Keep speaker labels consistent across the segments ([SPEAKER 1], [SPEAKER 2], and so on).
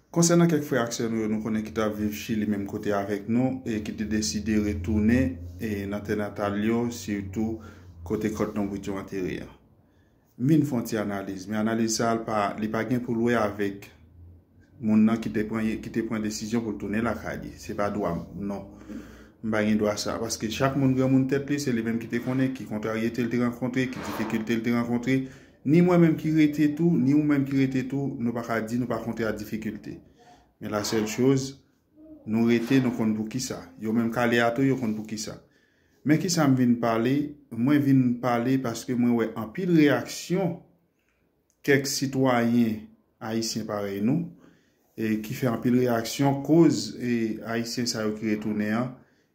[SPEAKER 1] Konsènan kèk frè ak sè nou yo nou konnen ki t ap viv Chili menm kote avèk nou e ki te deside retounen nan tè natal yo sitou kote kòt lonbrit yo antere an, m vin fè yon ti analiz. Men analiz sa a li pa gen pou l wè avèk moun nan ki te pran desizyon pou l tounen lakay li. Se pa dwa m non. M pa gen dwa sa a. Paske chak moun granmoun tèt li, se li menm ki te konnen ki kontraryete l te rankontre, ki difikilte l te rankontre. Ni mwen menm ki rete tou, ni ou menm ki rete tou, nou pa ka di nou pa kontre a difikilte. Men la sèl choz, nou rete, nou konn pou ki sa. Yo menm kale a tou, yo konn pou ki sa. Men ki sa m vin pale, mwen vin pale paske mwen wè anpil reyaksyon kèk sitwayen ayisyen parèy nou, ki fè anpil reyaksyon koz ayisyen sa yo ki retounen an,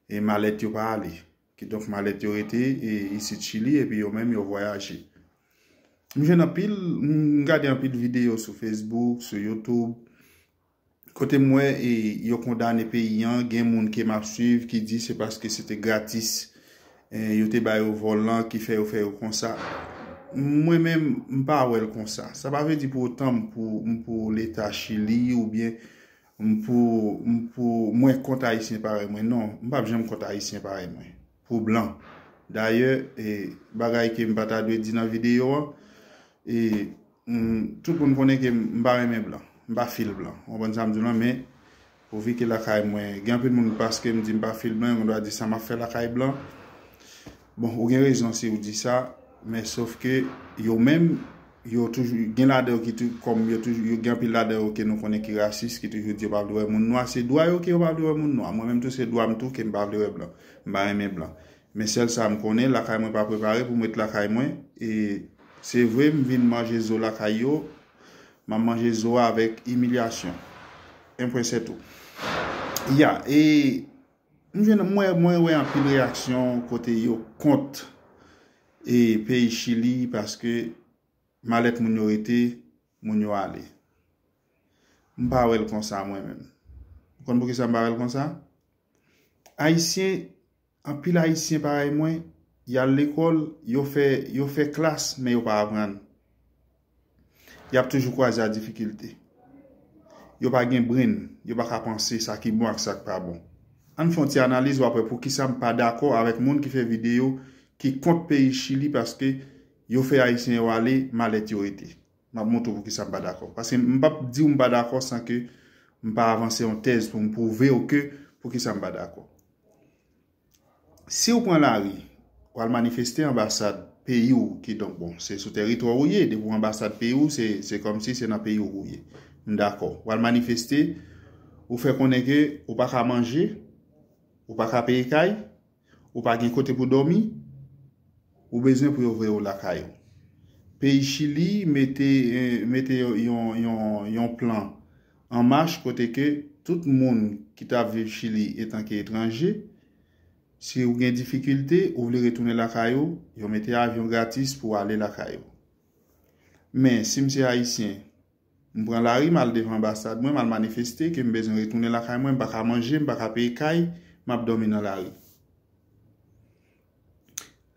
[SPEAKER 1] e malèt yo pa ale. Kidonk malèt yo rete isit Chili epi yo menm yo vwayaje. M jwenn anpil, m gade anpil videyo sou Facebook, sou YouTube, kote m wè e yo kondane peyi an, gen moun ke m ap swiv ki di se paske se te gratis yo te ba yo vòl lan ki fè yo fè yo konsa. Mwen menm, m pa wè l konsa. Sa pa vle di pou otan m pou leta Chili oubyen M pou m pou mwen kont ayisyen parèy mwen non m pap janm kont ayisyen parèy mwen pou blan dayè e bagay ke m pa ta dwe di nan videyo an e m tout moun konnen ke m pa renmen blan m pa fil blan ou konprann sa m di w lan men pou vi ke lakay mwen gen anpil moun paske m di m pa fil blan yo gen dwa di sa map fè lakay blan. Bon ou gen rezon si ou di sa, men sof ke yo menm yo toujou gen ladan yo ki toujou kòm yo toujou yo gen anpil ladan yo ke nou konnen ki rasis ki toujou di yo pa vle wè moun nwa, se dwa yo ke yo pa vle wè moun nwa, mwen menm tou se dwa m tou ke m pa vle wè blan, m pa renmen blan. Men sèl sa m konnen lakay mwen pa prepare pou m ret lakay mwen e se vre m vin manje zo lakay yo, m ap manje zo a avèk imilyasyon. Enpwen sètou. Ya e. M jwenn mwen mwen wè anpil reyaksyon kote yo kont e peyi chili paske malèt moun yo rete moun yo ale m pa wèl konsa mwen menm ou konn poukisa m pa wèl konsa ayisyen anpil ayisyen parèy mwen yal lekòl yo fè yo fè klas men yo pa aprann. Yap toujou kwaze a difikilte. Yo pa gen brenn, yo pa ka panse sa ki bon ak sa ki pa bon. Ann fè yon ti analiz wap wè poukisa m pa dakò avèk moun ki fè videyo ki kont peyi Chili paske yo fè Ayisyen yo ale malèt yo rete. Map montre w poukisa m pa dakò. Paske m pap di w m pa dakò san ke m pa avanse yon tèz pou m pwouve w ke poukisa m pa dakò. siw pran lari pou al manifeste anbasad peyi w ki donk bon se sou teritwa ou ye depi w anbasad peyi w se kòmsi se nan peyi w ou ye m dakò w al manifeste ou fè konnen ke ou pa ka manje ou pa ka peye kay ou pa gen kote pou dòmi ou bezwen pou yo voye w lakay ou peyi chili mete yon yon plan An Mach kote ke tout moun ki t ap viv Chili etanke etranje, si ou gen difikilte, ou vle retounen lakay ou, yo mete avyon gratis pou w ale lakay ou. Men, si m se Ayisyen, m pran lari, m al devan anbasad mwen, m al manifeste ke m bezwen retounen lakay mwen, m pa ka manje, m pa ka peye kay, m ap dòmi nan lari.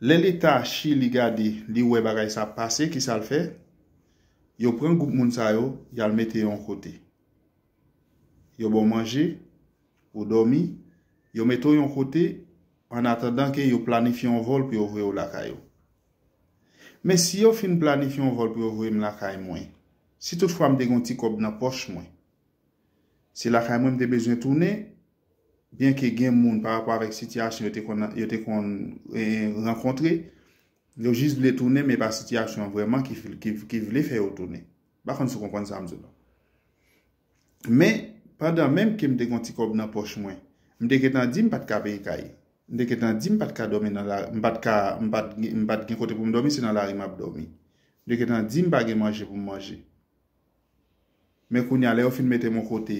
[SPEAKER 1] Lè Leta Chili gade, li wè bagay sa ap pase, kisa l fè? Yo pran gwoup moun sa yo, y al mete yo yon kote. Yo ba w manje, ou dòmi, yo mete w yon kote ann atandan ke yo planifye yon vòl pou yo voye w lakay ou. Men si yo fin planifye yon vòl pou yo voye m lakay mwen, si tout fwa m te gen yon ti kòb nan pòch mwen, se lakay mwen m te bezwen tounen, byenke gen moun parapò avèk sitiyasyon yo te konn rankontre, Yo jis vle tounen men epa sitiyasyon an vrèman ki vle fè yo tounen. M pa konn si w konprann sa m di w la. Men, pandan menm ke m te gen yon ti kòb nan pòch mwen, m te gentan di m pa t ka peye kay. M te gentan di m pa t ka dòmi nan lari, m pa t ka, m pa t gen, m pa t gen kote pou m dòmi, se nan lari m ap dòmi. M te gentan di m pa gen manje pou m manje. Men kounye a, lè yo fin mete m yon kote,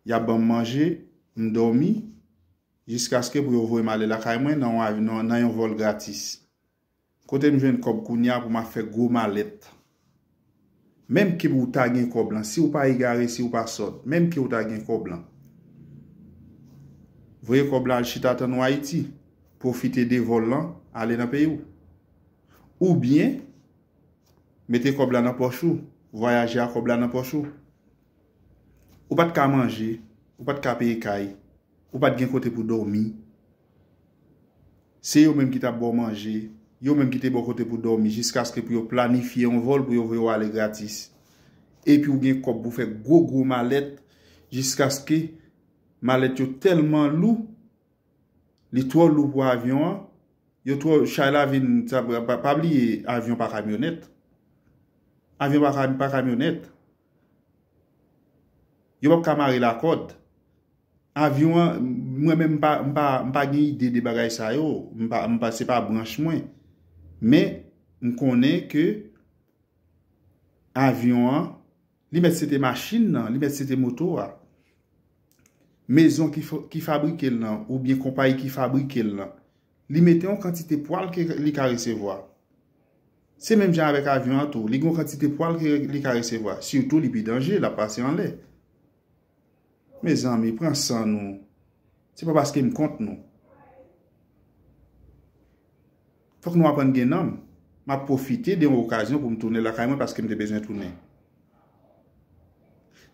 [SPEAKER 1] y ap ban m manje, m dòmi. Jiskaske pou yo voye m ale lakay mwen nan yon vòl gratis. Kote m jwenn kòb kounye a pou m ap fè gwo malèt? Menm ke ou ta gen kòb lan, si ou pa egare, si ou pa sòt, menm ke ou ta gen kòb lan, voye kòb lan al chita tann ou Ayiti, pwofite de vòl lan, ale nan peyi ou. Oubyen, mete kòb la nan pòch ou, vwayaje a kòb la nan pòch ou. Ou pa t ka manje, ou pa t ka peye kay. Ou pat gen kote pou dòmi. Se yo menm ki tap baw manje. Yo menm ki te baw kote pou dòmi jiskaske pou yo planifye yon vòl pou yo voye w ale gratis. Epi ou gen kòb pou fè gwo gwo malèt jiskaske malèt yo tèlman lou, li twò lou pou avyon an, yo twò, chay la vin, pa bliye avyon pa kamyonèt. Avyon pa kamyonèt. Yo pap ka mare l a kòd. Avyon an, mwen menm m pa gen ide de bagay sa yo. Se pa branch mwen. Men, m konnen ke avyon an, li mèt se te machin nan, li mèt se te moto a. Mezon ki fabrike l lan, ou byen konpayi ki fabrike l lan, li mete yon kantite pwal ke li ka resevwa. Se menm jan avèk avyon an tou, li gen yon kantite pwal ke li ka resevwa. Sitou li pi danje, l ap pase anlè. Mezanmi, pran san nou. Se pa paske m kont nou. Fòk nou aprann gen nanm. M ap pwofite de yon okazyon pou m tounen lakay mwen paske m te bezwen tounen.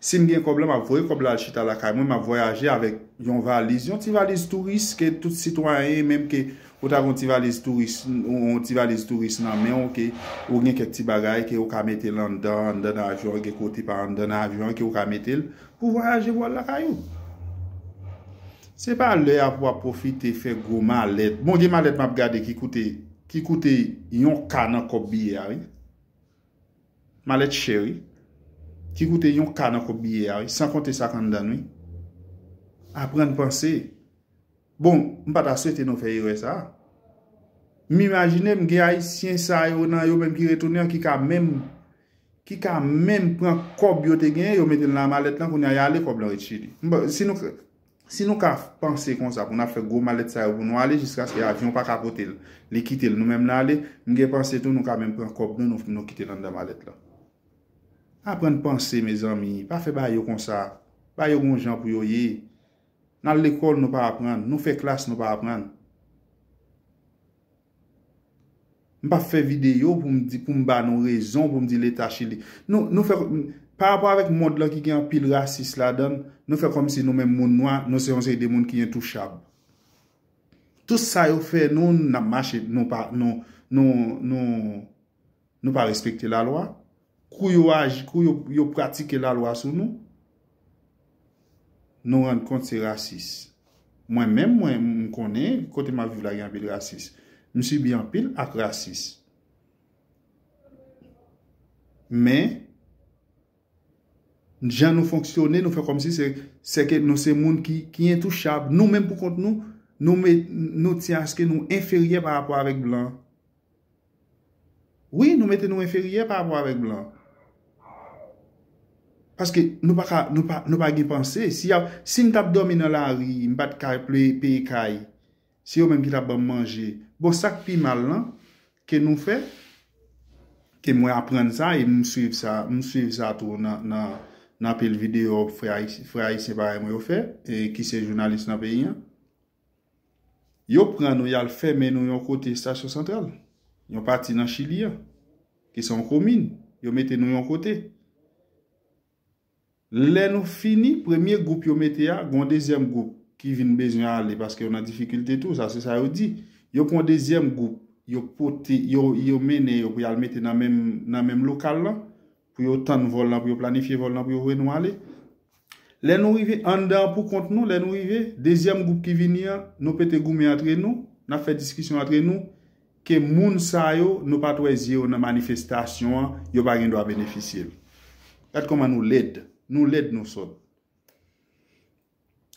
[SPEAKER 1] Sim gen kòb la map voye kòb la al chita lakay mwen map vwayaje avèk yon valiz yon ti valiz touris ke tout sitwayen menm ke ou ta gen yon ti valiz touris yon ti valiz touris nan menw ke ou gen kèk ti bagay ke ou ka mete l anndan anndan nan avyon an gen kote pa anndan nan avyon an ke ou ka mete l pou vwayaje pou al lakay ou se pa lè a pou wap pwofite fè gwo malèt bon gen malèt map gade ki koute ki koute yon ka nan kòb biyè a wi. Malèt chè wi. Ki koute yon ka nan kob biye a wi. San konte sak anndann wi. Aprann panse. Bon, m pa ta swete nou fè erè sa a. M imajine m gen ayisyen sa yo nan yo menm ki retounen an ki ka menm ki ka menm pran kob yo te genyen yo mete l nan malèt lan kounye a y ale kob lan ret chili. M pa si nou Si nou ka panse konsa pou n ap fè gwo malèt sa yo pou nou ale jiskaske avyon pa ka pote l, li kite l nou menm nan ale, m gen panse tou nou ka menm pran kòb nou nou nou kite l anndan malèt lan. Aprann panse mezanmi, pa fè bagay yo konsa, bagay yo gen yon jan pou yo ye. N al lekòl nou pa aprann, nou fè klas nou pa aprann. M pap fè videyo pou m di, pou m ba nou rezon, pou m di leta chili. Nou, nou fè, pa rapò avèk mond lan ki gen anpil rasis ladan l, nou fè kòmsi nou menm moun nwa, nou se yon seri de moun ki entouchab. Tout sa yo fè nou, n ap mache, nou pa, nou, nou, nou. Nou pa respekte la lwa. Kou yo aji, kou yo pratike la lwa sou nou, nou rann kont se rasis. Mwen menm mwen m konnen kote m ap viv la gen anpil rasis. M sibi anpil ak rasis. Men, jan nou fonksyone, nou fè kòm si se se ke nou se moun ki entouchab. Nou menm pou kont nou, nou tyanske nou enferyè pa rapò avèk blan. Wi nou mete nou enferyè pa rapò avèk blan. Paske nou pa ka, nou pa gen panse. Si m tap dòmi nan lari, m pat ka peye kay, se yo menm ki tap banm manje. Bon sak pi mal lan ke nou fè, ke mwen aprann sa e m swiv sa, m swiv sa tou nan pil videyo frè ayisyen parèy mwen yo fè, ki se jounalis nan peyi an. Yo pran nou y al fèmen nou yon kote estasyon santral, yon pati nan Chili an, ki se yon komin, yo mete nou yon kote. Lè nou fini, premye gwoup yo mete a, gen yon dezyèm gwoup ki vin bezwen ale paske yo nan difikilte tou, sa se sa yo di. Yo pran yon dezyèm gwoup, yo pote, yo mennen yo pou y al mete nan menm lokal lan, pou yo tann vòl lan, pou yo planifye vòl lan pou yo voye nou ale. Lè nou rive anndan an pou kont nou, lè nou rive, dezyèm gwoup ki vini an, nou pete goumen antre nou, n ap fè diskisyon antre nou, ke moun sa yo, nou pa t wè zye yo nan manifestasyon an, yo pa gen dwa benefisye l. Gad kòman nou lèd. Nou lèd, nou sòt.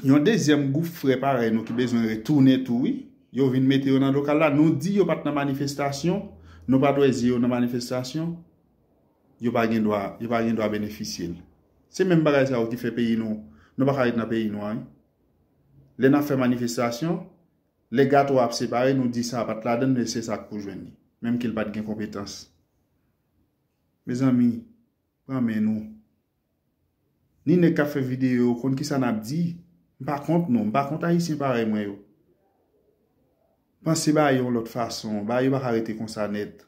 [SPEAKER 1] Yon dezyèm gwoup frè parèy nou ki bezwen retounen tou wi. Yo vin mete yo nan lokal la, nou di yo pa t nan manifestasyon, nou pa t wè zye yo nan manifestasyon, yo pa gen dwa, yo pa gen dwa benefisye l. Se menm bagay sa yo ki fè peyi nou, nou pa ka ret nan peyi nou an wi. Lè n ap fè manifestasyon, lè gato a ap separe, nou di sa pa t ladan l men se sa k pou jwenn li. Menm ke l pa t gen konpetans. Mezanmi! pran men nou. Ni nèg kap fè video yo konn kisa nap di. M pa kont nou, m pa kont ayisyen parèy mwen yo. Panse bagay yo yon lòt fason, bagay yo pa ka rete konsa nèt.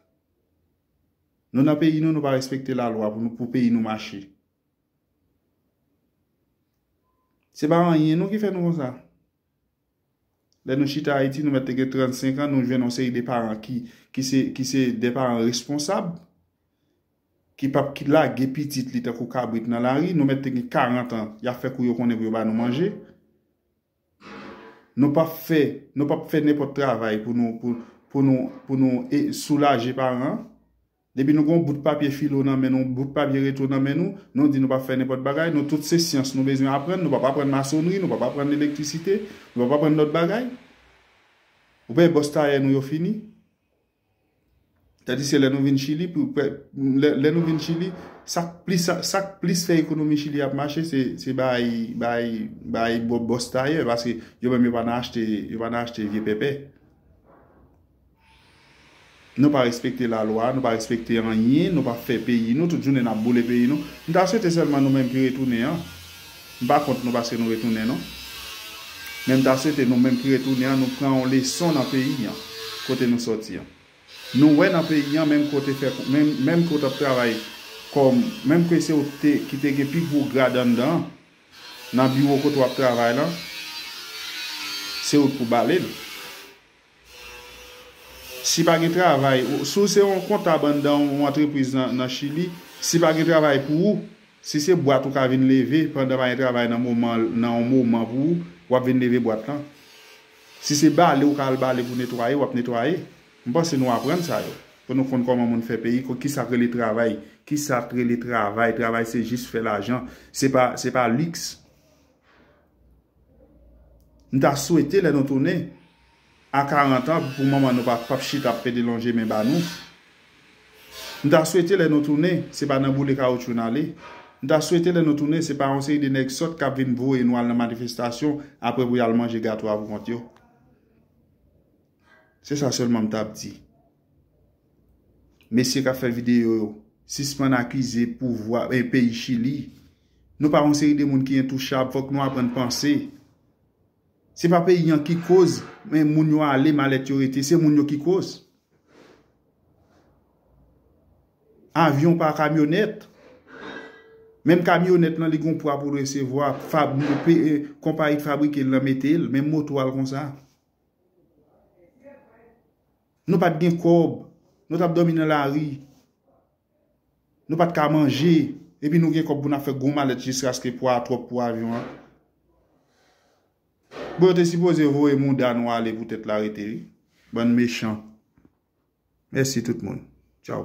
[SPEAKER 1] Nou nan peyi nou, nou pa respekte la lwa pou nou pou peyi nou mache. Se pa anyen nou ki fè nou konsa. Lè nou chita Ayiti, nou mèt te gen 35 an, nou jwenn yon seri de paran ki se de paran responsab, ki pap ki lage pitit li tankou kabrit nan lari, nou mèt te gen 40 an, y ap fè kou yo konnen pou yo ba nou manje. Nou pap fè, nou pap fè nenpòt travay pou nou soulaje paran. Depi nou gen yon bout papye filo nan men nou, yon bout papye reto nan men nou, nou di nou pap fè nenpòt bagay, nou tout se syans nou bezwen aprann, nou pap aprann masonnri, nou pap aprann elektrisite, nou pap aprann lòt bagay. Ou pè bòs tayè nou yo fini. Tadiske lè nou vin Chili, lè nou vin Chili, sa k plis, sa k plis fè ekonomi Chili ap mache se bay, bay, bay bòs tayè paske yo menm yo pa nan achte, yo pa nan achte vye pèpè. Nou pa respekte la lwa, nou pa respekte anyen, nou pa fè peyi nou, tout jounen nap boule peyi nou. M ta swete sèlman nou menm ki retounen an, m pa kont nou paske nou retounen non, men m ta swete nou menm ki retounen an nou pran yon leson nan peyi an kote nou sòti an. Nou wè nan peyi an menm ke w te fè, menm ke w t ap travay kòm, menm ke se w te ki te gen pi gwo grad anndan an, nan biwo kote w ap travay lan, se ou k pou bale l. Si pa gen travay, si w se yon kontab anndan yon antrepriz nan Chili, si pa gen travay pou ou, si se bwat ou ka vin leve pandan pa gen travay nan moman nan yon moman pou ou, w ap vin leve bwat lan. Si se bale ou ka al bale pou netwaye, w ap netwaye. M panse nou aprann sa yo. Pou nou konn kòman moun fè peyi, ki sa k rele travay. Ki sa k rele travay. Travay se jis fè lajan. Se pa, se pa liks. M ta swete lè nou tounen a 40 an pou manman nou pap chita ap pede lonje men ba nou. M ta swete lè nou tounen se pa nan boule kawoutchou n ale. M ta swete lè nou tounen se pa yon seri de nèg sòt k ap vin voye nou al nan manifestasyon aprè pou y al manje gato a pou kont yo. Se sa sèlman m t ap di. Mesye kap fè video yo sispann akize pouvwa e peyi chili nou pa yon seri de moun ki entouchab fòk nou aprann panse se pa peyi an ki koz men moun yo ale malèt yo rete se moun yo ki koz avyon pa kamyonèt menm kamyonèt lan li gon pwa pou resevwa konpayi ki fabrike l nan mete l menm moto al konsa Nou pat gen kòb, nou tap dòmi nan lari, nou pat ka manje, epi nou gen kòb pou n ap fè gwo malèt jiskaske pwa a twòp pou avyon an. Bon yo te sipoze voye mouda nou ale pou tèt la rete wi. Bann mechan. Mèsi tout moun. Tchaw.